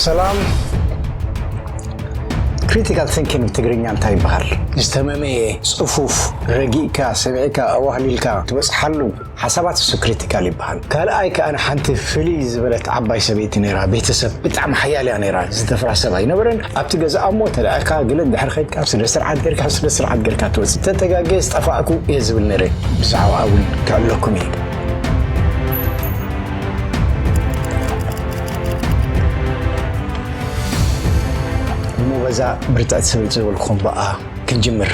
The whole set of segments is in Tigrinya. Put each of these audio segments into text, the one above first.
ሰላም ክሪቲካል ቲንኪንግ ትግርኛ እንታይ ይበሃል? ዝተመመየ ፅፉፍ ረጊእካ ሰሚዕካ ኣዋህሊልካ ትበፅሓሉ ሓሳባት እሱ ክሪቲካል ይበሃል። ካልኣይ ከዓ ሓንቲ ፍልይ ዝበለት ዓባይ ሰበይቲ ነይራ ቤተሰብ ብጣዕሚ ሓያል እያ ነይራ ዝተፍራ ሰብ ኣይነበረን ኣብቲ ገዛኣ እሞ ተለኣካ ግለ እንድሕር ከድካ ስነ ስርዓት ጌርካ ስነ ስርዓት ጌርካ ትወፅእ ተተጋገየ ዝጠፋእኩ እየ ዝብል ነይረ ብዛዕባ እውን ክዕለኩም እዩ እሞ በዛ ብርትዕቲ ስብል ዝበልኩም በኣ ክንጅምር።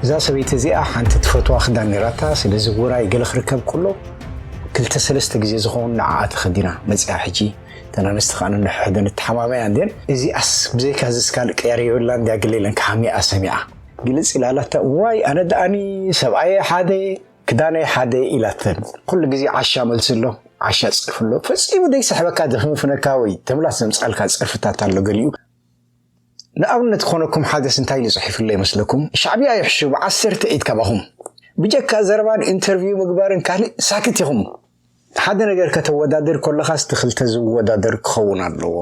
እዛ ሰበይቲ እዚኣ ሓንቲ ትፈትዋ ክዳን ነራታ፣ ስለዚ ውራይ ገለ ክርከብ ከሎ ክልተ ሰለስተ ግዜ ዝኸውን ንዓኣ ተኸዲና መፅያ ሕጂ እተን ኣንስቲ ከዓ ንንሕሕደን እተሓማመያ እንድየን እዚኣስ ብዘይካ ዝስ ካልእ ቅያር የብላን እንድያ ገለ ኢለን ክሓምያኣ ሰሚዓ ግልፅ ኢላላታ ዋይ ኣነ ደኣኒ ሰብኣየ ሓደ ክዳነይ ሓደ ኢላተን ኩሉ ግዜ ዓሻ መልስሎ ዓሻ ጽርፍሎ ፈጺሙ ዘይስሕበካ ዘፍንፍነካ ወይ ተምላስ ዘምጻልካ ጽርፍታት ኣሎ ገሊኡ ንኣብነት ክኾነኩም ሓደስ እንታይ ኢሉ ጽሒፍሎ ይመስለኩም ሻዕብያ ይሕሹ ብዓሰርተ ኢድ ካባኹም ብጀካ ዘረባን ኢንተርቪው ምግባርን ካልእ ሳክት ኢኹም ሓደ ነገር ከተወዳድር ኮለኻስ እቲ ክልተ ዝወዳደር ክኸውን ኣለዎ።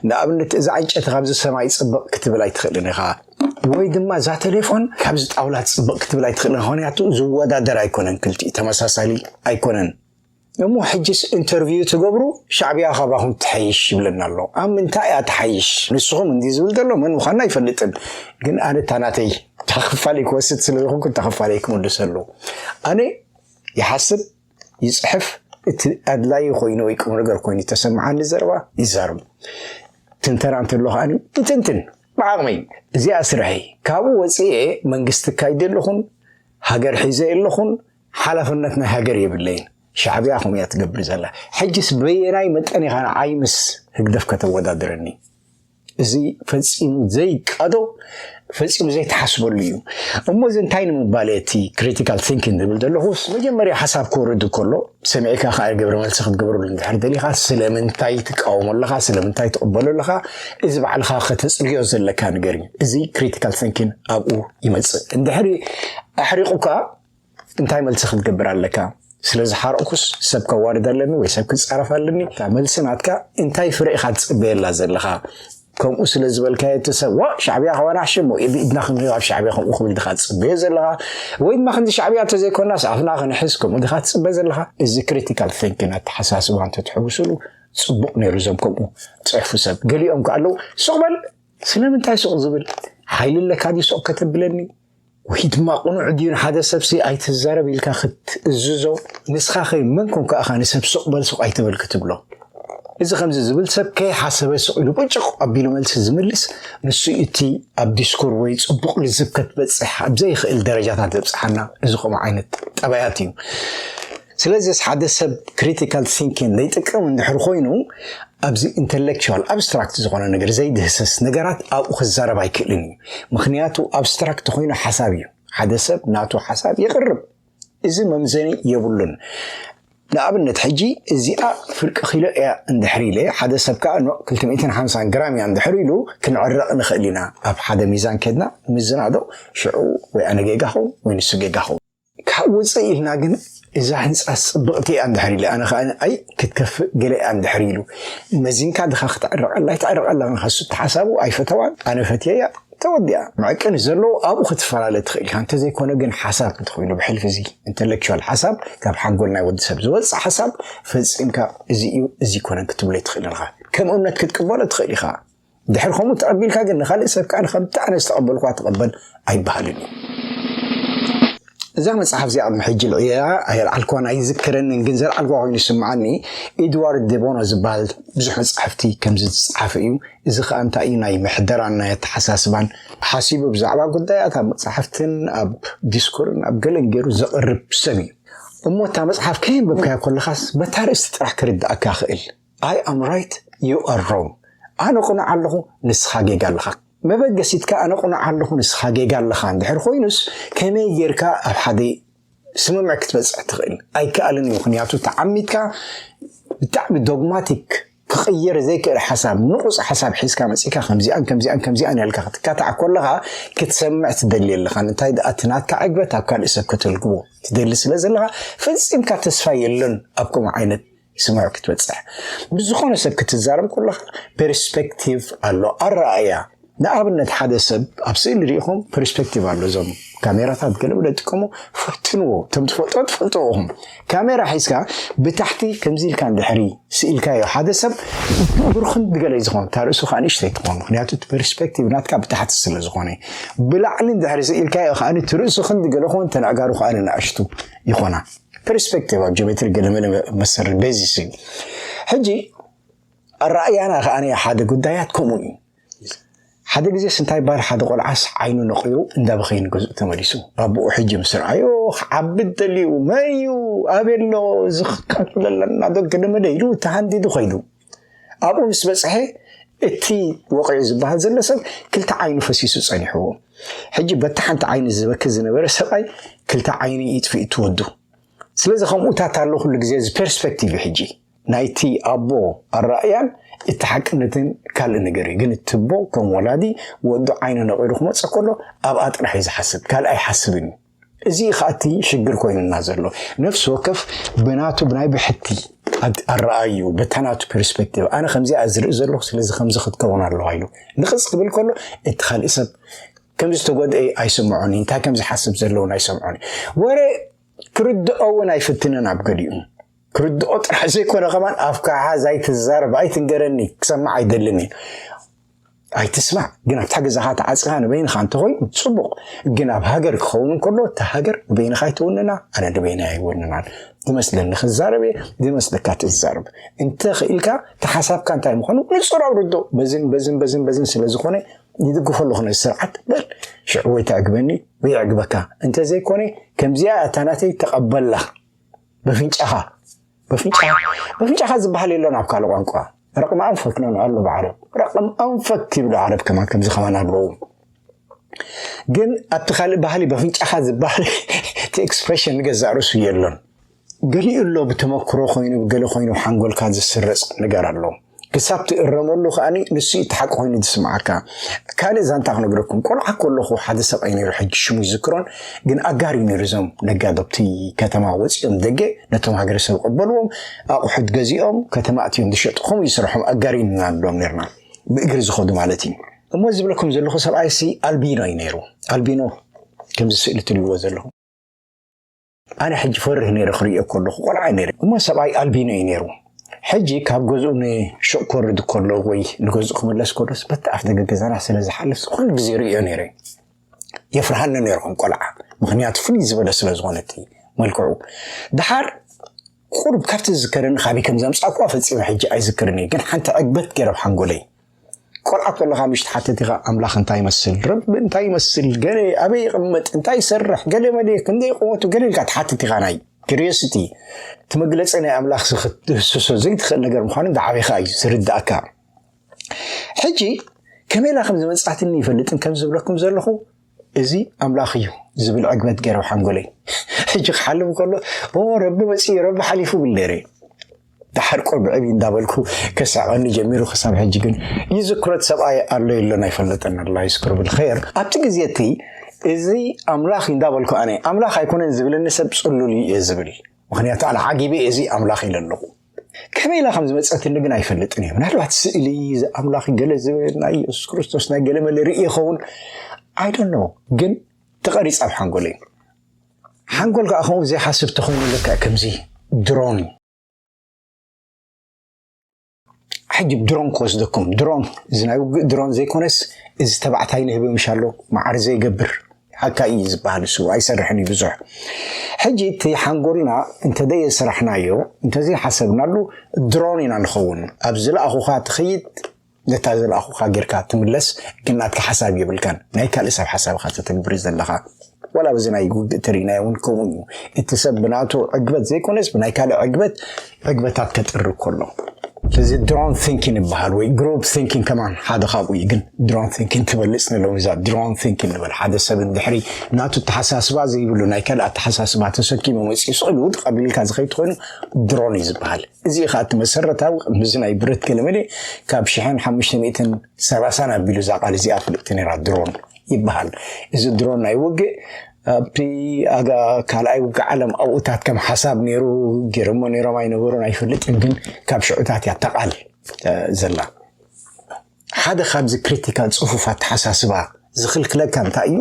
ንኣብነት እዛ ዕንጨቲ ካብዚ ሰማይ ጽብቕ ክትብል ኣይትኽእልን ኢኻ። ወይ ድማ እዛ ተሌፎን ካብዚ ጣውላ ጽብቕ ክትብል ኣይትኽእልን ኢኻ። ምክንያቱ ዝወዳደር ኣይኮነን ክልቲኡ ተመሳሳሊ ኣይኮነን። እሞ ሕጅስ ኢንተርቪው ትገብሩ ሻዕብያ ካባኹም ትሐይሽ ይብለና ኣሎ። ኣብ ምንታይ እያ ትሓይሽ? ንስኹም እንዲ ዝብል ዘሎ መን ምዃንና ኣይፈልጥን። ግን ኣነ እታ ናተይ እታ ክፋለይ ክወስድ ስለ ዝኾንኩ እታ ክፋለይ ክምልሰሉ ኣነ ይሓስብ ይጽሕፍ እቲ ኣድላዪ ኮይኑ ወይ ቁም ነገር ኮይኑ ተሰምዓኒ ዘረባ ይዛረብ ትንተና እንተሎ ከዓኒ ይትንትን ብዓቕመይ እዚኣ ስርሐይ ካብኡ ወፅኤ መንግስቲ ካይደ ኣለኹን ሃገር ሒዘ ኣለኹን ሓላፍነት ናይ ሃገር የብለይን ሻዕብያ ኹም እያ ትገብር ዘላ ሕጅስ በየናይ መጠን ኢኻ ንዓይ ምስ ህግደፍ ከተወዳድረኒ እዚ ፈጺሙ ዘይቃዶ ፈጺሙ ዘይተሓስበሉ እዩ እሞ እዚ እንታይ ንምባል እቲ ክሪቲካል ቲንኪን ዝብል ዘለኹስ መጀመርያ ሓሳብ ክወርድ ከሎ ሰሚዕካ ከዓ ግብረ መልሲ ክትገብረሉ እንድሕር ደሊኻ ስለምንታይ ትቃወሞ ኣለኻ ስለምንታይ ትቕበሎ ኣለኻ እዚ ባዕልኻ ከተፅርዮ ዘለካ ነገር እዩ እዚ ክሪቲካል ቲንኪን ኣብኡ ይመፅእ እንድሕሪ ኣሕሪቑካ እንታይ መልሲ ክትገብር ኣለካ? ስለ ዝሓረቕኩስ ሰብ ከዋርድ ኣለኒ ወይ ሰብ ክጻረፍ ኣለኒ? እታ መልሲ ናትካ እንታይ ፍረ ኢኻ ትጽበየላ ዘለኻ? ከምኡ ስለ ዝበልካዮ እቲ ሰብ ዋ ሻዕብያ ከዋናሕሽ እሞ ኢድና ክንሪኦ ኣብ ሻዕብያ ከምኡ ክብል ድኻ ትጽበዮ ዘለኻ ወይ ድማ ክንዲ ሻዕብያ እንተዘይኮናስ ኣፍና ክንሕዝ ከምኡ ድኻ ትጽበ ዘለኻ እዚ ክሪቲካል ቲንኪን ኣተሓሳስባ እንተትሕውስሉ ጽቡቕ ነይሩ እዞም ከምኡ ጽሕፉ ሰብ ገሊኦም ከ ኣለዉ ሱቕ በል ስለምንታይ ሱቕ ዝብል ሓይሊ ኣለካ ድዩ ሱቕ ከተብለኒ ወይ ድማ ቅኑዕ ድዩ ንሓደ ሰብሲ ኣይትዛረብ ኢልካ ክትእዝዞ ንስኻ ከይ መን ኮንካ እኻ ንሰብ ስቕ በል ስቕ ኣይትበል ክትብሎ እዚ ከምዚ ዝብል ሰብ ከይሓሰበ ስቕ ኢሉ ቁጭቕ ኣቢሉ መልሲ ዝምልስ ንሱ እቲ ኣብ ዲስኩር ወይ ጽቡቕ ልዝብ ከትበጽሕ ኣብ ዘይኽእል ደረጃታት ዘብጽሓና እዚ ከምኡ ዓይነት ጠባያት እዩ ስለዚስ ሓደ ሰብ ክሪቲካል ቲንኪን ዘይጥቀም እንድሕር ኮይኑ ኣብዚ ኢንተሌክቹዋል ኣብስትራክት ዝኾነ ነገር ዘይድህሰስ ነገራት ኣብኡ ክዛረብ ኣይክእልን እዩ። ምኽንያቱ ኣብስትራክት ኾይኑ ሓሳብ እዩ። ሓደ ሰብ ናቱ ሓሳብ የቕርብ። እዚ መምዘኒ የብሉን። ንኣብነት ሕጂ እዚኣ ፍርቂ ኪሎ እያ እንድሕር ኢለ ሓደ ሰብ ከዓ ኖ ክልተ ሚእትን ሓምሳን ግራም እያ እንድሕር ኢሉ ክንዕረቕ ንኽእል ኢና። ኣብ ሓደ ሚዛን ከድና ምዝናዶ ሽዑ ወይ ኣነ ጌጋ ኸውን ወይ ንሱ ጌጋ ኸውን። ካብ ውፅእ ኢልና ግን እዛ ህንፃስ ፅብቕቲ እያ እንድሕር ኢለ ኣነ ከዓ ኣይ ክትከፍእ ገለ እያ እንድሕር ኢሉ መዚንካ ድኻ ክትዕረቐላ ይትዕረቐላ ንኸሱ ተሓሳቡ ኣይፈተዋን ኣነ ፈትየያ ተወዲኣ መዕቀኒ ዘለዎ ኣብኡ ክትፈላለ ትኽእል ኢኻ እንተዘይኮነ ግን ሓሳብ እንተኮይኑ ብሕልፊ እዚ ኢንተሌክቹዋል ሓሳብ ካብ ሓንጎል ናይ ወዲ ሰብ ዝወፅእ ሓሳብ ፈፂምካ እዚ እዩ እዚ ኮነ ክትብሎ ትኽእል ኢኻ ከም እምነት ክትቅበሎ ትኽእል ኢኻ ድሕር ከምኡ ተቐቢልካ ግን ንኻልእ ሰብ ከኣ ከምቲ ኣነ ዝተቐበልኳ ተቐበል ኣይበሃልን እዩ እዛ መጽሓፍ እዚኣ ቅድሚ ሕጂ ልዕያ ኣየልዓልክዋን ኣይዝክረንን ግን ዘልዓልክዋ ኮይኑ ይስምዓኒ ኤድዋርድ ደቦኖ ዝበሃል ብዙሕ መጻሕፍቲ ከምዚ ዝጸሓፈ እዩ እዚ ከዓ እንታይ እዩ ናይ ምሕደራን ናይ ኣተሓሳስባን ሓሲቡ ብዛዕባ ጉዳያት ኣብ መጻሕፍትን ኣብ ዲስኩርን ኣብ ገለን ገይሩ ዘቕርብ ሰብ እዩ እሞ እታ መጽሓፍ ከየንበብካዮ ከለኻስ በታ ርእስቲ ጥራሕ ክርድኣካ ክእል ኣይ ኣም ራይት ዩ ኣር ሮንግ ኣነ ቅኑዕ ኣለኹ ንስኻ ጌጋ ኣለኻ መበገሲትካ ኣነ ቅኑዕ ኣለኹ ንስኻ ጌጋ ኣለኻ እንድሕር ኮይኑስ ከመይ ጌርካ ኣብ ሓደ ስምምዕ ክትበፅሕ ትኽእል ኣይከኣልን እዩ ምክንያቱ ተዓሚትካ ብጣዕሚ ዶግማቲክ ክቕየር ዘይክእል ሓሳብ ንቑፅ ሓሳብ ሒዝካ መፂእካ ከምዚኣን ከምዚኣን ከምዚኣን ያልካ ክትካታዕ ኮለኻ ክትሰምዕ ትደሊ ኣለኻ እንታይ ደኣ እቲ ናትካ ዕግበት ኣብ ካልእ ሰብ ከተልግቦ ትደሊ ስለ ዘለኻ ፈፂምካ ተስፋ የለን ኣብ ከምኡ ዓይነት ስምዑ ክትበፅሕ ብዝኾነ ሰብ ክትዛረብ ከለኻ ፐርስፔክቲቭ ኣሎ ኣረኣእያ ንኣብነት ሓደ ሰብ ኣብ ስእሊ ሪኢኹም ፐርስፔክቲቭ ኣሎ እዞም ካሜራታት ገለ ብለ ጥቀሙ ፈትንዎ እቶም ትፈልጦ ትፈልጥዎ ኢኹም ካሜራ ሒዝካ ብታሕቲ ከምዚ ኢልካ ድሕሪ ስኢልካዮ ሓደ ሰብ ብርኽን ድገለ ዝኾን እታ ርእሱ ከዓ ንእሽተይ ትኾን ምክንያቱ እቲ ፐርስፔክቲቭ ናትካ ብታሕቲ ስለ ዝኾነ ብላዕሊ ድሕሪ ስኢልካዮ ከዓ እቲ ርእሱ ክንዲ ገለ ኾን ተናዕጋሩ ከዓ ንኣሽቱ ይኾና ፐርስፔክቲቭ ኣብ ጆሜትሪ ገለመለ መሰሪ ቤዚስ እዩ ሕጂ ኣረኣእያና ከኣ ሓደ ጉዳያት ከምኡ እዩ ሓደ ግዜስ እንታይ ይበሃል ሓደ ቆልዓስ ዓይኑ ነቂሩ እንዳበኸይ ንገዝኡ ተመሊሱ ባብኡ ሕጂ ምስ ረኣዮ ክዓቢ ደልዩ መን እዩ ኣበሎ ዝክካትብለለና ዶ ገለመለ ኢሉ ተሃንዲዱ ከይዱ ኣብኡ ምስ በጽሐ እቲ ወቒዑ ዝበሃል ዘሎ ሰብ ክልተ ዓይኑ ፈሲሱ ጸኒሕዎ። ሕጂ በቲ ሓንቲ ዓይኑ ዝበኪ ዝነበረ ሰብኣይ ክልተ ዓይኑ ይጥፍእ ትወዱ። ስለዚ ከምኡታት ኣሎ ኩሉ ግዜ እዚ ፐርስፔክቲቭ እዩ ሕጂ ናይቲ ኣቦ ኣረኣእያን እቲ ሓቅነትን ካልእ ነገር እዩ ግን እቲ ኣቦ ከም ወላዲ ወዱ ዓይኑ ነቒሉ ክመጽእ ከሎ ኣብኣ ጥራሕ እዩ ዝሓስብ ካልእ ኣይሓስብን እዩ እዚ እዩ ከኣ እቲ ሽግር ኮይኑና ዘሎ። ነፍሲ ወከፍ ብናቱ ብናይ ብሕቲ ኣረኣእይኡ በታ ናቱ ፐርስፔክቲቭ ኣነ ከምዚ እያ ዝርኢ ዘለኹ ስለዚ ከምዚ ክትከውን ኣለዋ ኢሉ ንቕፅ ክብል ከሎ እቲ ካልእ ሰብ ከም ዝተጎድአ ኣይስምዖን እዩ እንታይ ከም ዝሓስብ ዘለውን ኣይሰምዖን እዩ ወረ ክርድኦ እውን ኣይፍትንን ኣብ ገሊኡ ክርድኦ ጥራሕ ዘይኮነ ከማን ኣፍካሓ ዛይትዛረብ ኣይትንገረኒ ክሰማዕ ኣይደልን እዩ ኣይትስማዕ ግን ኣብታ ገዛኻ ተዓፅኻ ንበይንኻ እንተኾይኑ ፅቡቕ ግን ኣብ ሃገር ክኸውን ከሎ እታ ሃገር ንበይንኻ ኣይትውንና ኣነ ንበይና ኣይወንናን ዝመስለኒ ክዛረብ እየ ዝመስለካ ትዛረብ እንተ ክኢልካ ተሓሳብካ እንታይ ምዃኑ ንፁር ኣውርዶ በዝን በዝን በዝን በዝን ስለ ዝኾነ ይድግፎ ኣለኹ ነዚ ስርዓት በል ሽዑ ወይ ተዕግበኒ ወይ ዕግበካ እንተዘይኮነ ከምዚኣ እታ ናተይ ተቐበላ በፍንጫኻ በፍንጫኻ በፍንጫኻ ዝበሃል የሎን ኣብ ካልእ ቋንቋ ረቕም ኣንፈክ ነው ኣሉ ብዓረብ ረቕም ኣንፈክ ይብሉ ዓረብ ከማን ከምዚ ከማን ኣለዉ ግን ኣብቲ ካልእ ባህሊ በፍንጫኻ ዝበሃል እቲ ኤክስፕሬሽን ንገዛእ ርእሱ የሎን ገሊኡ ኣሎ ብተመክሮ ኮይኑ ገለ ኮይኑ ሓንጎልካ ዝስረፅ ነገር ኣሎ ክሳብ ትእረመሉ ከኣ ንሱ እዩ እቲ ሓቂ ኮይኑ ዝስምዓካ። ካልእ ዛንታ ክነግረኩም፣ ቆልዓ ከለኹ ሓደ ሰብኣይ ነይሩ፣ ሕጂ ሽሙ ይዝክሮን፣ ግን ኣጋር እዩ ነይሩ። እዞም ነጋዶ ኣብቲ ከተማ ወጺኦም ደገ ነቶም ሃገረሰብ ቀበልዎም፣ ኣቑሑት ገዚኦም ከተማ ኣትዮም ዝሸጡ፣ ከምኡ እዩ ስርሖም፣ ኣጋር ኢና ንብሎም ነይርና፣ ብእግሪ ዝኸዱ ማለት እዩ። እሞ እዚ ዝብለኩም ዘለኹ ሰብኣይሲ ኣልቢኖ እዩ ነይሩ፣ ኣልቢኖ ከምዚ ስእሊ ትርእይዎ ዘለኹም። ኣነ ሕጂ ፈርህ ነይረ ክርእዮ ከለኹ ቆልዓ ነይረ እሞ ሰብኣይ ኣልቢኖ እዩ ነይሩ ሕጂ ካብ ገዝኡ ንሹቕ ክወርድ ከሎ ወይ ንገዝኡ ክምለስ ከሎስ በቲ ኣፍ ደገ ገዛና ስለ ዝሓልፍ ኩሉ ግዜ ርእዮ ነይረ የፍርሃኒ ነይረ ከም ቆልዓ ምክንያቱ ፍልይ ዝበለ ስለ ዝኾነት መልክዑ ድሓር ቁርብ ካብቲ ዝዝከረኒ ካበይ ከም ዘምፃእኩዋ ፈፂመ ሕጂ ኣይዝክርን እየ ግን ሓንቲ ዕግበት ገይረ ኣብ ሓንጎለይ ቆልዓ ኮለኻ ምሽ ትሓትት ኢኻ ኣምላኽ እንታይ ይመስል ረቢ እንታይ ይመስል ገለ ኣበይ ይቕመጥ እንታይ ይሰርሕ ገለ መለ ክንደይ ቁመቱ ገለ ኢልካ ትሓትት ኢኻ ናይ ክሪዮሲቲ እቲ መግለፂ ናይ ኣምላኽ ክትህስሶ ዘይትኽእል ነገር ምዃኑ እንዳዓበኻ እዩ ዝርዳእካ ሕጂ ከመይ ኢላ ከም ዝመፅኣትኒ ይፈልጥን ከም ዝብለኩም ዘለኹ እዚ ኣምላኽ እዩ ዝብል ዕግበት ገይረ ሓንጎለይ ሕጂ ክሓልም ከሎ ረቢ መፅኡ ረቢ ሓሊፉ ብል ነይረ ድሓር ቆልብዕብ እንዳበልኩ ከሳቀኒ ጀሚሩ ክሳብ ሕጂ ግን ይዝክሮት ሰብኣይ ኣሎ የሎን ኣይፈለጠን ኣላ ይዝክሮ ብልኸየር ኣብቲ ግዜ እቲ እዚ ኣምላኽ እንዳበልኩ ኣነ ኣምላኽ ኣይኮነን ዝብለኒ ሰብ ፅሉል እዩ እየ ዝብል ምክንያቱ ኣነ ዓጊበ እዚ ኣምላኽ ኢለ ኣለኹ ከመይ ኢላ ከም ዝመፀትኒ ግን ኣይፈልጥን እዩ ምናልባት ስእሊ ኣምላኽ ገለ ዝብል ናይ የሱስ ክርስቶስ ናይ ገለ መለ ርኢ ይኸውን ኣይዶኖ ግን ተቐሪፃ ኣብ ሓንጎል እዩ ሓንጎል ከዓ ከምኡ ዘይሓስብ ተኮይኑ ልክዕ ከምዚ ድሮን ሕጂ ድሮን ክወስደኩም ድሮን እዚ ናይ ውግእ ድሮን ዘይኮነስ እዚ ተባዕታይ ንህቢ ምሻሎ ማዕሪ ዘይገብር ሓካይ እዩ ዝባሃል እሱ ኣይሰርሕን እዩ ብዙሕ ሕጂ እቲ ሓንጎልና እንተደየ ስራሕናዮ እንተዘይ ሓሰብናሉ ድሮን ኢና ንኸውን ኣብ ዝለኣኹኻ ትኸይድ ነታ ዝለኣኹኻ ጌርካ ትምለስ ግን ናትካ ሓሳብ የብልካን ናይ ካልእ ሰብ ሓሳብካ ተተግብር ዘለኻ ወላ በዚ ናይ ውግእ ተሪእናዮ እውን ከምኡ እዩ እቲ ሰብ ብናቱ ዕግበት ዘይኮነስ ብናይ ካልእ ዕግበት ዕግበታት ከጥሪ ከሎ እዚ ድሮን ቲንኪን ይበሃል ወይ ግሮብ ቲንኪን ከማን ሓደ ካብኡ እዩ ግን ድሮን ቲንኪን ትበልፅ ንለዉ እዛ ድሮን ቲንኪን ንበል ሓደ ሰብ እንድሕሪ ናቱ ተሓሳስባ ዘይብሉ ናይ ካልእ ኣተሓሳስባ ተሰኪሙ መፅኡ ስእሉ ውድቅ ኣቢልካ ዝኸይድ ኮይኑ ድሮን እዩ ዝበሃል እዚ ከዓ እቲ መሰረታዊ ቅድሚዚ ናይ ብረት ገለመለ ካብ ሽሕን ሓሙሽተ ሚእትን ሰላሳን ኣቢሉ እዛ ቃል እዚኣ ፍልጥቲ ነራ ድሮን ይበሃል እዚ ድሮን ናይ ውግእ ኣብቲ ካልኣይ ውግእ ዓለም ኣብኡታት ከም ሓሳብ ነይሩ ገይሮሞ ነይሮም ኣይነበሩን ኣይፈልጥን፣ ግን ካብ ሽዑታት እያ እታ ቃል ዘላ። ሓደ ካብዚ ክሪቲካል ጽፉፍ ኣተሓሳስባ ዝኽልክለካ እንታይ እዩ?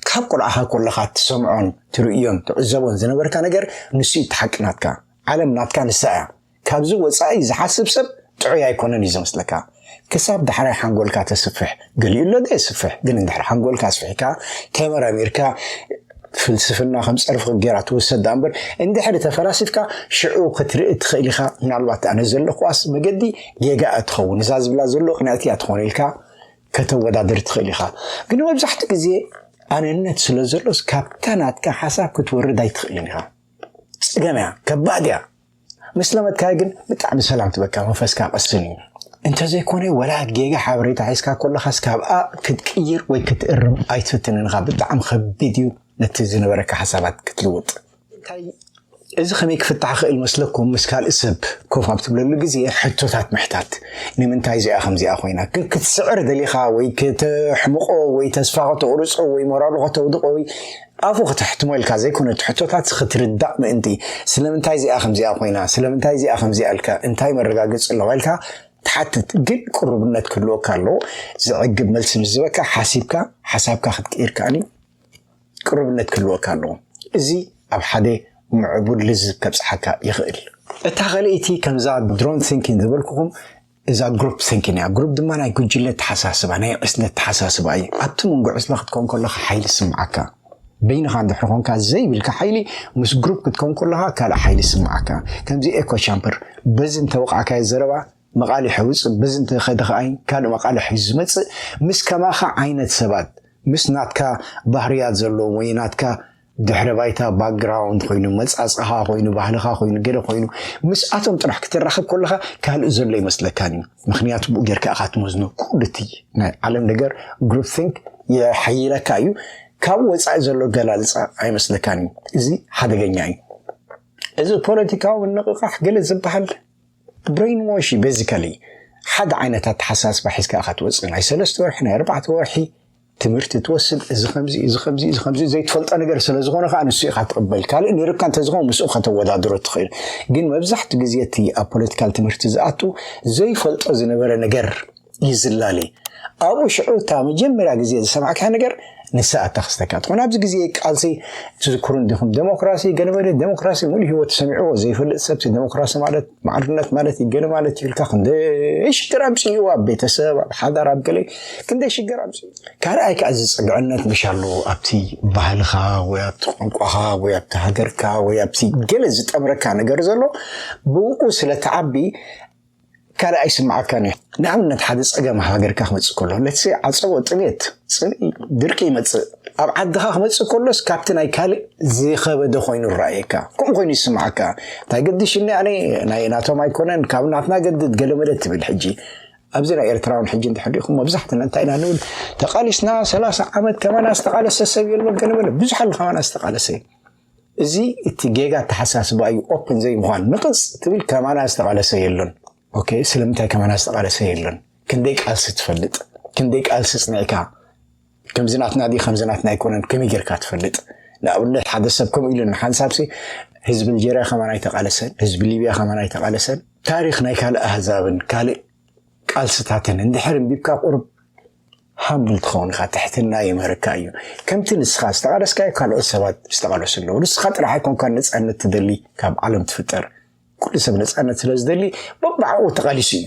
ካብ ቁልዓኻ ኮለኻ እትሰምዖን ትርእዮን ትዕዘቦን ዝነበርካ ነገር ንሱ እዩ እቲ ሓቂ ናትካ። ዓለም ናትካ ንሳ እያ። ካብዚ ወጻኢ ዝሓስብ ሰብ ጥዑይ ኣይኮነን እዩ ዝመስለካ ክሳብ ዳሕራይ ሓንጎልካ ተስፍሕ ገሊኡ ኣሎ ዶ የስፍሕ ግን እንድሕር ሓንጎልካ ኣስፊሕካ ተመራሚርካ ፍልስፍና ከም ጸርፊ ጌራ ትወሰድ ዳኣ እምበር እንድሕሪ ተፈላሲፍካ ሽዑ ክትርኢ ትኽእል ኢኻ ምናልባት ኣነ ዘለኹዋስ መገዲ ጌጋ እያ ትኸውን እዛ ዝብላ ዘሎ ቅንዕቲ እያ ትኾነ ኢልካ ከተወዳድር ትኽእል ኢኻ ግን መብዛሕትኡ ግዜ ኣነነት ስለ ዘሎስ ካብታ ናትካ ሓሳብ ክትወርድ ኣይትኽእልን ኢኻ ጽገም እያ ከባድ እያ ምስ ለመድካዮ ግን ብጣዕሚ ሰላም ትበካ መንፈስካ ቅስን እዩ እንተዘይኮነ ወላ ጌጋ ሓበሬታ ሒዝካ ኮለኻስ ካብኣ ክትቅይር ወይ ክትእርም ኣይትፍትንን ኢኻ ብጣዕሚ ከቢድ እዩ ነቲ ዝነበረካ ሓሳባት ክትልውጥ እንታይ እዚ ከመይ ክፍታሕ ይኽእል መስለኩም ምስ ካልእ ሰብ ኮፍ ኣብ ትብለሉ ግዜ ሕቶታት ምሕታት ንምንታይ እዚኣ ከምዚኣ ኮይና ግን ክትስዕር ደሊኻ ወይ ከተሕምቆ ወይ ተስፋ ከተቑርፆ ወይ ሞራሉ ከተውድቆ ወይ ኣፉ ክተሕትሞ ኢልካ ዘይኮነ እቲ ሕቶታት ክትርዳእ ምእንቲ ስለምንታይ እዚኣ ከምዚኣ ኮይና ስለምንታይ እዚኣ ከምዚኣ ኢልካ እንታይ መረጋገጺ ኣለዋ ኢልካ ትሓትት ግን ቅሩብነት ክህልወካ ኣለዎ ዘዕግብ መልሲ ምስ ዝበካ ሓሲብካ ሓሳብካ ክትቅይር ከኣኒ ቅሩብነት ክህልወካ ኣለዎ እዚ ኣብ ሓደ ምዕቡል ልዝብ ከብጽሓካ ይኽእል እታ ኸልእቲ ከምዛ ድሮን ቲንኪን ዝበልኩኹም እዛ ግሩፕ ቲንኪን እያ። ግሩፕ ድማ ናይ ጉጅለ ኣተሓሳስባ፣ ናይ ዕስለ ኣተሓሳስባ እዩ። ኣብቲ መንጎ ዕስለ ክትከውን ከለኻ ሓይሊ ዝስምዓካ። በይንኻ እንድሕር ኾንካ ዘይብልካ ሓይሊ፣ ምስ ግሩፕ ክትከውን ከለኻ ካልእ ሓይሊ ዝስምዓካ። ከምዚ ኤኮ ቻምበር፣ በዚ እንተወቓዕካዮ ዘረባ መቓልሕ የውጽእ፣ በዚ እንተኸደ ከኣ ካልእ መቓልሕ እዩ ዝመጽእ። ምስ ከማኻ ዓይነት ሰባት፣ ምስ ናትካ ባህርያት ዘለዎም ወይ ናትካ ድሕረ ባይታ ባክግራውንድ ኮይኑ መጻጽኻ ኮይኑ ባህልኻ ኮይኑ ገለ ኮይኑ ምስኣቶም ጥራሕ ክትራኸብ ከለኻ ካልእ ዘሎ ይመስለካን እዩ ምክንያቱ ብኡ ጌርካ እኻ ትመዝኖ ኩሉ እቲ ናይ ዓለም ነገር ግሩፕ ቲንክ የሐይለካ እዩ ካብ ወፃኢ ዘሎ ገላልፃ ኣይመስለካን እዩ እዚ ሓደገኛ እዩ እዚ ፖለቲካዊ ምንቕቓሕ ገለ ዝበሃል ብሬን ዋሽ እዩ ቤዚካሊ ሓደ ዓይነት ኣተሓሳስባ ሒዝካ ኢኻ ትወፅእ ናይ ሰለስተ ወርሒ ናይ ኣርባዕተ ወርሒ ትምህርቲ ትወስድ እዚ ከምዚ እዚ ከምዚ እዚ ከምዚ ዘይትፈልጦ ነገር ስለ ዝኾነ ከዓ ንሱ ኢኻ ትቕበል ካልእ ነይርካ እንተዝኾን ምስኡ ከተወዳድሮ ትኽእል ግን መብዛሕቲ ግዜ እቲ ኣብ ፖለቲካል ትምህርቲ ዝኣቱ ዘይፈልጦ ዝነበረ ነገር ይዝላለ ኣብኡ ሽዑ እታ መጀመርያ ግዜ ዝሰማዕካ ነገር ንሳ ኣታ ክስተካ ትኾን ኣብዚ ግዜ ቃልሲ ትዝክሩ እንዲኹም ዴሞክራሲ ገነበለ ዴሞክራሲ ሙሉ ህይወት ሰሚዕዎ ዘይፈልጥ ሰብሲ ዴሞክራሲ ማለት ማዕርነት ማለት እዩ ገለ ማለት እዩ ኢልካ ክንደይ ሽግር ኣምፅኡ ኣብ ቤተሰብ ኣብ ሓዳር ኣብ ገለ ክንደይ ሽግር ኣምፅኡ ካልኣይ ከዓ ዝፅግዕነት መሽ ኣለዎ ኣብቲ ባህልኻ ወይ ኣብቲ ቋንቋኻ ወይ ኣብቲ ሃገርካ ወይ ኣብቲ ገለ ዝጠምረካ ነገር ዘሎ ብኡ ስለተዓቢ ካልእ ኣይስምዓካን እዩ ንኣብነት ሓደ ፀገም ሃገርካ ክመፅእ ከሎ ለትሰ ዓፀቦ ጥሜት ፅምኢ ድርቂ ይመፅእ ኣብ ዓድኻ ክመጽእ ከሎስ ካብቲ ናይ ካልእ ዝኸበደ ኮይኑ ይረኣየካ፣ ከምኡ ኮይኑ ይስምዓካ። እንታይ ገዲሽኒ ኣነ ናይ ናቶም ኣይኮነን፣ ካብ ናትና ገድድ ገለመለ ትብል ሕጂ ኣብዚ ናይ ኤርትራውን ሕጂ እንተሕሪኹም መብዛሕትና እንታይ ኢና ንብል ተቓሊስና ሰላሳ ዓመት ከማና ዝተቓለሰ ሰብ የሎን ገለመለ ብዙሕ ኣሎ ከማና ዝተቓለሰ እዚ እቲ ጌጋ ኣተሓሳስባ እዩ ኦፕን ዘይምዃን ንቕፅ ትብል ከማና ዝተቓለሰ የሎን ኦኬ ስለምንታይ ከማና ዝተቓለሰ የሎን ክንደይ ቃልሲ ትፈልጥ ክንደይ ቃልሲ ፅኒዕካ ከምዚ ናትና ድዩ ከምዚ ናትና ኣይኮነን ከመይ ጌርካ ትፈልጥ ንኣብነት ሓደ ሰብ ከምኡ ኢሉ ንሓንሳብሲ ህዝቢ ኣልጀርያ ከማን ኣይተቓለሰን ህዝቢ ሊብያ ከማን ኣይተቓለሰን ታሪክ ናይ ካልእ ኣህዛብን ካልእ ቃልስታትን እንድሕር እንቢብካ ቁርብ ሃምብል ትኸውን ኢኻ ትሕትና የምህረካ እዩ ከምቲ ንስኻ ዝተቓለስካዮ ካልኦት ሰባት ዝተቓለሱ ኣለዉ ንስኻ ጥራሕ ኣይኮንካ ነፃነት ትደሊ ካብ ዓለም ትፍጠር ኩሉ ሰብ ነፃነት ስለ ዝደሊ በባዕኡ ተቓሊሱ እዩ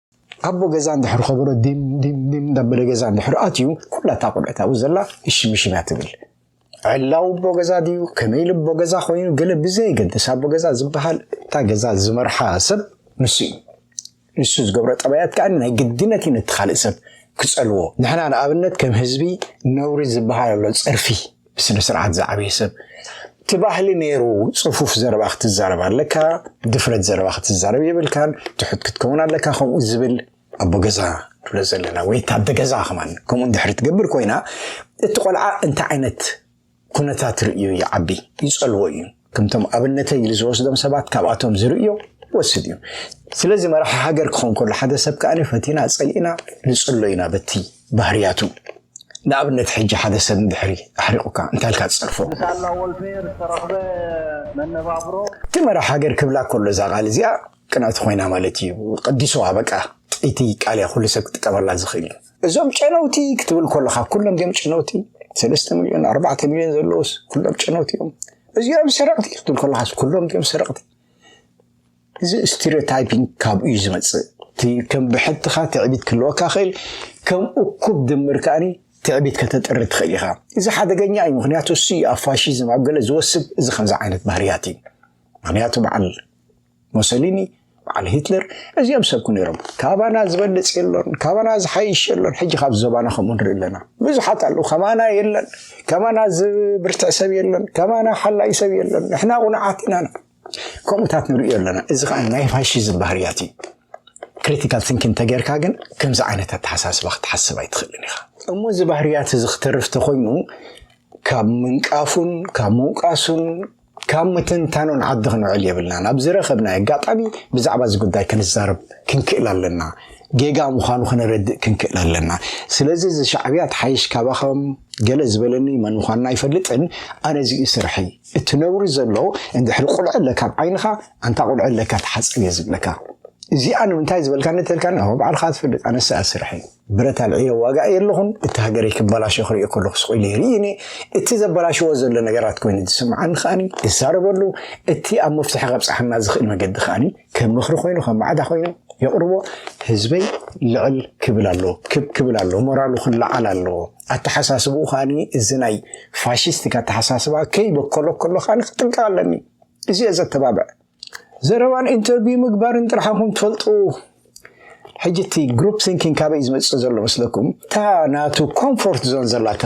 ኣቦ ገዛ እንድሕር ከበሮ ዲምዲም እንዳበለ ገዛ እንድሕር ኣትዩ ኩላ እታ ቆልዕት ኣብኡ ዘላ እሽምሽም እያ ትብል ዕላው ኣቦ ገዛ ድዩ ከመይ ኢሉ ኣቦ ገዛ ኮይኑ ገለ ብዘየገድስ ኣቦ ገዛ ዝበሃል እታ ገዛ ዝመርሓ ሰብ ንሱ እዩ ንሱ ዝገብሮ ጠባያት ከዓ ናይ ግድነት እዩ ነቲ ካልእ ሰብ ክፀልዎ ንሕና ንኣብነት ከም ህዝቢ ነውሪ ዝበሃል ኣሎ ፀርፊ ብስነ ስርዓት ዝዓበየ ሰብ እቲ ባህሊ ነይሩ ፅፉፍ ዘረባ ክትዛረብ ኣለካ ድፍረት ዘረባ ክትዛረብ የብልካን ትሑት ክትከውን ኣለካ ከምኡ ዝብል ኣቦ ገዛ ንብሎ ዘለና ወይ ታደ ገዛ ከማን ከምኡ እንድሕሪ ትገብር ኮይና እቲ ቆልዓ እንታይ ዓይነት ኩነታት ርእዩ ይዓቢ ይፀልዎ እዩ ከምቶም ኣብነተይ ኢሉ ዝወስዶም ሰባት ካብኣቶም ዝርእዮ ወስድ እዩ ስለዚ መራሒ ሃገር ክኸውን ከሎ ሓደ ሰብ ከኣ ፈቲና ጸሊእና ንጽሎ ኢና በቲ ባህርያቱ ንኣብነት ሕጂ ሓደ ሰብ ንድሕሪ ኣሕሪቑካ እንታይ ኢልካ ትጸርፎ ብሳላ ወልፌር ዝተረኽበ መነባብሮ እቲ መራሕ ሃገር ክብላ ከሎ እዛ ቃል እዚኣ ቅንዕቲ ኮይና ማለት እዩ ቀዲሶዋ በቃ ጥይቲ ቃል እያ ኩሉ ሰብ ክጥቀመላ ዝኽእል እዩ እዞም ጨነውቲ ክትብል ከለካ ኩሎም ዲኦም ጨነውቲ ሰለስተ ሚልዮን ኣርባዕተ ሚልዮን ዘለውስ ኩሎም ጨነውቲ እዮም እዚኦም ሰረቕቲ ክትብል ከለካ ኩሎም ዲኦም ሰረቕቲ እዚ ስቴሪዮታይፒንግ ካብኡ እዩ ዝመፅእ እቲ ከም ብሕትኻ ትዕቢት ክህልወካ ክእል ከም እኩብ ድምር ከዓኒ ትዕቢት ከተጥሪ ትኽእል ኢኻ እዚ ሓደገኛ እዩ ምክንያቱ እሱ ኣብ ፋሽዝም ኣብ ገለ ዝወስብ እዚ ከምዚ ዓይነት ባህርያት እዩ ምክንያቱ በዓል ሞሰሊኒ በዓል ሂትለር እዚኦም ሰብኩ ነይሮም ካባና ዝበልፅ የሎን ካባና ዝሓይሽ የሎን ሕጂ ካብ ዞባና ከምኡ ንርኢ ኣለና ብዙሓት ኣለዉ ከማና የለን ከማና ዝብርትዕ ሰብ የለን ከማና ሓላይ ሰብ የለን ንሕና ቁኑዓት ኢና ከምኡታት ንሪኦ ኣለና እዚ ከዓ ናይ ፋሽዝም ባህርያት እዩ ክሪቲካል ቲንኪን ተገይርካ ግን ከምዚ ዓይነት ኣተሓሳስባ ክትሓስብ ኣይትኽእልን ኢኻ እሞ እዚ ባህርያት እዚ ክተርፍ ተኮይኑ ካብ ምንቃፉን ካብ ምውቃሱን ካብ ምትንታኑ ንዓዲ ክንውዕል የብልናን። ኣብ ዝረኸብናዮ ኣጋጣሚ ብዛዕባ እዚ ጉዳይ ክንዛረብ ክንክእል ኣለና። ጌጋ ምዃኑ ክነረድእ ክንክእል ኣለና። ስለዚ እዚ ሻዕብያ ትሓይሽ ካባኻ ገለ ዝበለኒ መን ምዃንና ኣይፈልጥን፣ ኣነ እዚ'ዩ ስርሐይ። እቲ ነውሪ ዘሎ እንድሕሪ ቁልዐ ኣለካ ኣብ ዓይንኻ፣ ኣንታ ቁልዐ ኣለካ ተሓጸብ እየ ዝብለካ። እዚኣ ንምንታይ ዝበልካኒ እንተልካኒ፣ ኣዎ ባዕልኻ ትፈልጥ፣ ኣነስ እዚኣ ስርሐይ። ብረት ኣልዒለ እዋጋእ እየ ኣለኹን፣ እቲ ሃገረይ ክበላሾ ክሪኦ ከለኹ ስቕ ኢለ ይርኢ እኔ፣ እቲ ዘበላሽዎ ዘሎ ነገራት ኮይኑ ዝስምዓኒ ከኣኒ እዛረበሉ፣ እቲ ኣብ መፍትሒ ከብጽሓና ዝኽእል መገዲ ከኣኒ ከም ምኽሪ ኮይኑ ከም ማዕዳ ኮይኑ የቕርቦ፣ ህዝበይ ልዕል ክብል ኣለዎ፣ ክብ ክብል ኣለዎ፣ ሞራሉ ክለዓል ኣለዎ፣ ኣተሓሳስብኡ ከኣኒ እዚ ናይ ፋሽስቲክ ኣተሓሳስባ ከይበከሎ ከሎ ከኣኒ ክጥንቀቕ ኣለኒ፣ እዚ እየ ዘተባብዕ። ዘረባን ኢንተርቪው ምግባርን ጥራሕ ኢኹም ትፈልጡ። ሕጂ እቲ ግሩፕ ሲንኪንግ ካበይ እዩ ዝመፅእ ዘሎ መስለኩም? እታ ናቱ ኮምፎርት ዞን ዘላ እታ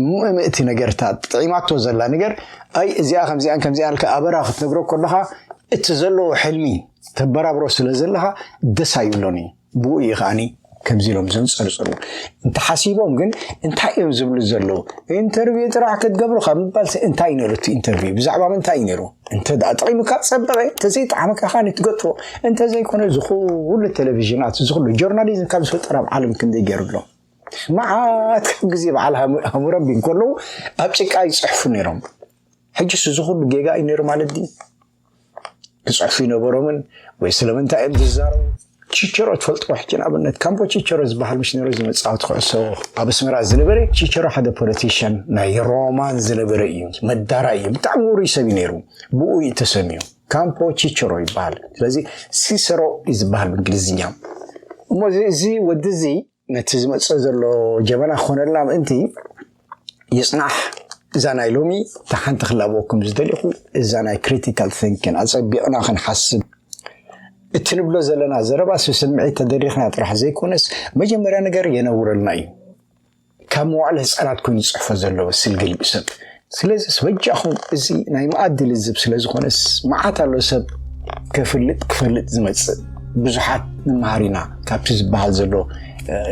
ምእምእቲ ነገር እታ ጥዒማቶ ዘላ ነገር ኣይ እዚኣ ከምዚኣን ከምዚኣ ልካ ኣበራ ክትነግሮ ከለካ እቲ ዘለዎ ሕልሚ ተበራብሮ ስለ ዘለካ ደስ ኣይብሎን እዩ። ብኡ እዩ ከዓኒ ከምዚ ኢሎም ዘንጸርጽሩ እንተሓሲቦም ግን እንታይ እዮም ዝብሉ ዘለዉ ኢንተርቪው ጥራሕ ክትገብሩ ካብ ምባልሲ እንታይ እዩ ነይሩ እቲ ኢንተርቪው ብዛዕባ ምንታይ እዩ ነይሩ እንተ ደኣ ጠቒሙካ ጸበቐ እንተዘይጠዓመካ ከዓኒ ትገጥፎ እንተዘይኮነ ዝኹሉ ቴሌቭዥናት ዝኹሉ ጆርናሊዝም ካብ ዝፈጠር ኣብ ዓለም ክንደይ ገይሩ ኣሎ መዓት ካብ ግዜ በዓል ሃሙረቢ እንከለዉ ኣብ ጭቃ ይፅሕፉ ነይሮም ሕጅስ እዚ ኩሉ ጌጋ እዩ ነይሩ ማለት ድዩ ክጽሕፉ ይነበሮምን ወይ ስለምንታይ እዮም ዝዛረቡ ቺቸሮ ትፈልጥዎ ሕጂ ንኣብነት ካምፖ ቺቸሮ ዝበሃል ምስ ነሮ ዝመጻወቲ ክዕሶ ኣብ ኣስመራ ዝነበረ ቺቸሮ ሓደ ፖለቲሽን ናይ ሮማን ዝነበረ እዩ መዳራ እዩ ብጣዕሚ ውሩይ ሰብ እዩ ነይሩ ብኡ እዩ ተሰሚዩ ካምፖ ቺቸሮ ይበሃል ስለዚ ሲሰሮ እዩ ዝበሃል ብእንግሊዝኛ እሞ እዚ ወዲ እዚ ነቲ ዝመጽእ ዘሎ ጀበና ክኾነልና ምእንቲ ይጽናሕ እዛ ናይ ሎሚ እታ ሓንቲ ክላበወኩም ዝደሊኹ እዛ ናይ ክሪቲካል ቲንኪን ኣጸቢቕና ክንሓስብ እቲ ንብሎ ዘለና ዘረባ ስስምዒት ተደሪኽና ጥራሕ ዘይኮነስ መጀመርያ ነገር የነውረልና እዩ ካብ መዋዕለ ህፃናት ኮይኑ ዝፅሕፎ ዘለዎ ስልግል ብሰብ ስለዚስ በጃኹም እዚ ናይ መኣዲ ልዝብ ስለ ዝኾነስ መዓት ኣሎ ሰብ ከፍልጥ ክፈልጥ ዝመጽእ ብዙሓት ንመሃር ኢና ካብቲ ዝበሃል ዘሎ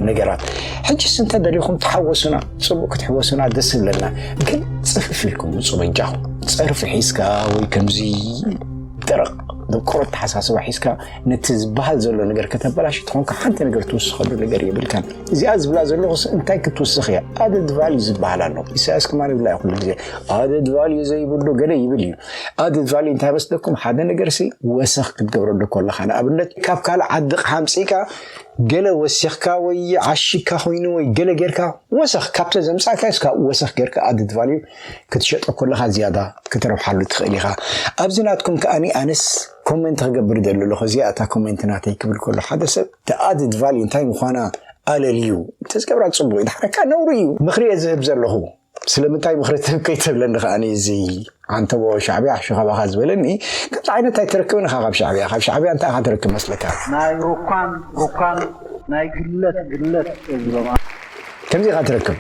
ነገራት ሕጅስ እንተደሊኹም ተሓወሱና ፅቡቅ ክትሕወሱና ደስ ብለና ግን ፅፍፍ ኢልኩም ውፁ በጃኹም ፀርፊ ሒዝካ ወይ ከምዚ ደረቕ ደቆሮ ተሓሳስባ ሒዝካ ነቲ ዝበሃል ዘሎ ነገር ከተበላሽ ትኾንካ ሓንቲ ነገር ትውስኸሉ ነገር የብልካን እዚኣ ዝብላ ዘለኹስ እንታይ ክትውስኽ እያ ኣደድ ቫልዩ ዝበሃል ኣሎ ኢሳያስ ከማ ይብላ እዩ ኩሉ ግዜ ኣደድ ቫልዩ ዘይብሉ ገለ ይብል እዩ ኣደድ ቫልዩ እንታይ መስለኩም ሓደ ነገር ሲ ወሰኽ ክትገብረሉ ከለኻ ንኣብነት ካብ ካልእ ዓዲ ሓምፂእካ ገለ ወሲኽካ ወይ ዓሽካ ኮይኑ ወይ ገለ ጌርካ ወሰኽ ካብተ ዘምፃእካ ስ ካብኡ ወሰኽ ጌርካ ኣደድ ቫልዩ ክትሸጦ ከለኻ ዝያዳ ክትረብሓሉ ትኽእል ኢኻ ኣብዚ ናትኩም ከኣ ኣነስ ኮመንት ክገብር ደሊ ኣለኹ እዚኣ እታ ኮመንት ናተይ ክብል ከሎ ሓደ ሰብ ተኣድድ ቫሊ እንታይ ምዃና ኣለልዩ እንተዝገብራ ፅቡቅ እዩ ድሓረካ ነውሪ እዩ ምኽሪ እየ ዝህብ ዘለኹ ስለምንታይ ምኽሪ ትህብ ከይትብለኒ ከዓ እዚ ዓንተቦ ሻዕብያ ሕሹ ካባኻ ዝበለኒ ከምዚ ዓይነት ኣይትረክብን ኢኻ ካብ ሻዕብያ ካብ ሻዕብያ እንታይ ኢኻ ትረክብ መስለካ ናይ ሩኳም ሩኳም ናይ ግለት ግለት እዝሮም ከምዚ ኢኻ ትረክብ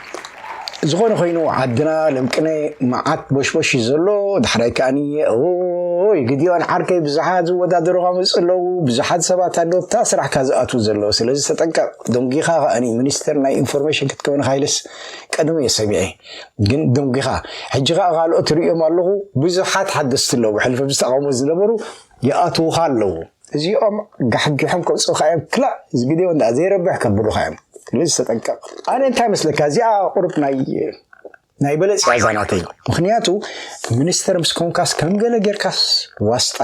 ዝኾነ ኮይኑ ዓድና ለምቅነ መዓት ቦሽቦሽ እዩ ዘሎ ዳሕራይ ከኣኒ ኦይ ግዲዮን ዓርከይ ብዙሓት ዝወዳደሩኻ መፁ ኣለዉ ብዙሓት ሰባት ኣለዉ እታ ስራሕካ ዝኣትዉ ዘለዎ ስለዚ ተጠንቀቕ ደንጊኻ ከኣኒ ሚኒስተር ናይ ኢንፎርሜሽን ክትከውን ካይልስ ቀደሙ እየ ሰሚዐ ግን ደንጊኻ ሕጂ ከዓ ካልኦት ርእዮም ኣለኹ ብዙሓት ሓደስቲ ኣለዉ ሕልፈ ምስ ተቃውሞ ዝነበሩ ይኣትዉኻ ኣለዉ እዚኦም ጋሕጊሖም ከውጽኡኻ እዮም ክላእ እዚ ቪድዮ እንዳ ዘይረብሕ ከብሉኻ እዮም ስለዚ ተጠንቀቕ ኣነ እንታይ መስለካ እዚኣ ቁርብ ናይ ናይ በለጽ እያ እዛ ናተይ ምክንያቱ ሚኒስተር ምስ ኮንካስ ከም ገለ ጌርካስ ዋስጣ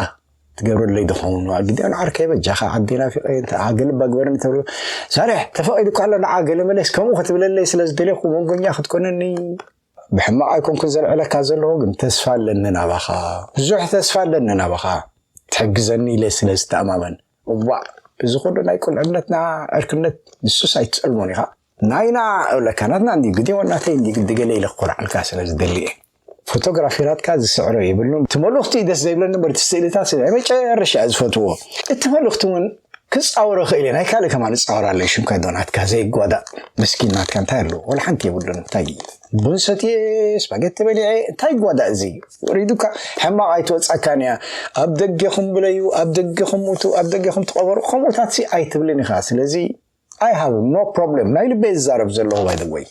ትገብረለይ ድኸውን ግዲኣን ዓርከይ በጃኻ ዓዲ ናፊቐ ገለባ ግበረኒ ተብሎ ሳርሕ ተፈቒዱ እኳ ኣሎ ንዓ ገለ መለስ ከምኡ ክትብለለይ ስለ ዝደለኹ መንጎኛ ክትኮነኒ ብሕማቅ ኣይኮንኩን ዘልዕለካ ዘለኹ ግን ተስፋ ኣለኒ ናባኻ ብዙሕ ተስፋ ኣለኒ ናባኻ ትሕግዘኒ ኢለ ስለ ዝተኣማመን እዋእ እዚ ኩሉ ናይ ቁልዕነትና ዕርክነት ንሱስ ኣይትጸልሞን ኢኻ ናይና እብለካ ናትና እንዲ ግዲ ወናተይ እንዲ ግዲ ገለ ኢለ ክኮርዓልካ ስለ ዝደሊ እየ ፎቶግራፊራትካ ዝስዕሮ የብሉን እቲ መልእኽቱ ደስ ዘይብለኒ እምበር እቲ ስእልታት ናይ መጨረሻ ዝፈትዎ እቲ መልእኽቲ እውን ክጻወሮ ክእል ናይ ካልእ ከማን ጻወር ኣለይ ሽምካ ዶ ናትካ ዘይጓዳእ ምስኪን ናትካ እንታይ ኣለዎ ወላ ሓንቲ የብሉን እንታይ እዩ ቡን ሰትየ ስፓጌቲ በሊዐ እንታይ ጓዳእ እዚ ወሪዱካ ሕማቕ ኣይትወጻካን እያ ኣብ ደገኹም ብለዩ ኣብ ደገኹም ሙቱ ኣብ ደገኹም ትቐበሩ ከምኡታት ሲ ኣይትብልን ኢኻ ስለዚ ኣይ ሃቭ ኖ ፕሮብለም ናይ ልበይ ዝዛረብ ዘለኹ ባይ ዘ ወይ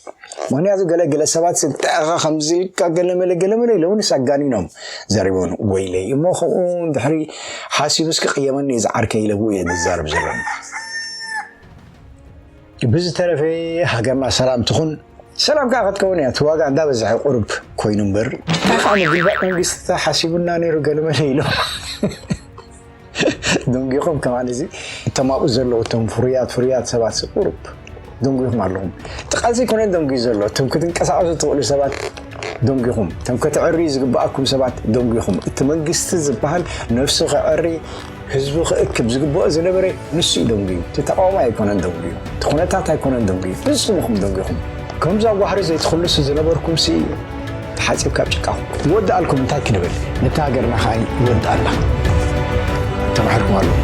ምክንያቱ ገለ ገለ ሰባት ስልጠዕኻ ከምዝልካ ገለመለ ገለመለ ኢሎምንስ ኣጋኒኖም ዘሪቦን ወይለይ እሞ ከምኡ ድሕሪ ሓሲቡስ ክቅየመኒ እዩ ዝዓርከይ ኢለቡ እየ ዝዛረብ ዘለኒ ብዝተረፈ ሃገርና ሰላም ትኹን ሰላም ከዓ ክትከውን እያ እቲ ዋጋ እንዳበዝሐ ቁርብ ኮይኑ እምበር እንታይ ከዓ ምግልባጥ መንግስቲ ሓሲቡና ነይሩ ገለመለ ኢሎም ደንጒኹም ከማን እዚ እቶም ኣብኡ ዘለዉ እቶም ፍሩያት ፍሩያት ሰባት ቁሩብ ደንጒኹም ኣለኹም እቲ ቃልሲ ኣይኮነን ደንጒዩ ዘሎ እቶም ክትንቀሳቐሱ ትኽእሉ ሰባት ደንጒኹም እቶም ከተዕርዩ ዝግብኣኩም ሰባት ደንጒኹም እቲ መንግስቲ ዝበሃል ነፍሱ ከዕሪ ህዝቡ ክእክብ ዝግብኦ ዝነበረ ንሱ እዩ ደንጒዩ እቲ ተቃዋማይ ኣይኮነን ደንጒዩ እቲ ኩነታት ኣይኮነን ደንጒዩ ንስኹም ኢኹም ደንጒኹም ከምዛ ዋህሪ ዘይትኽልሱ ዝነበርኩም ሲ እዩ ተሓጺብካ ኣብ ጭቃ ክወድኣልኩም እንታይ ክንብል ነታ ሃገርና ከኣ ይወድኣላ ተማሒርኩም ኣለኹም።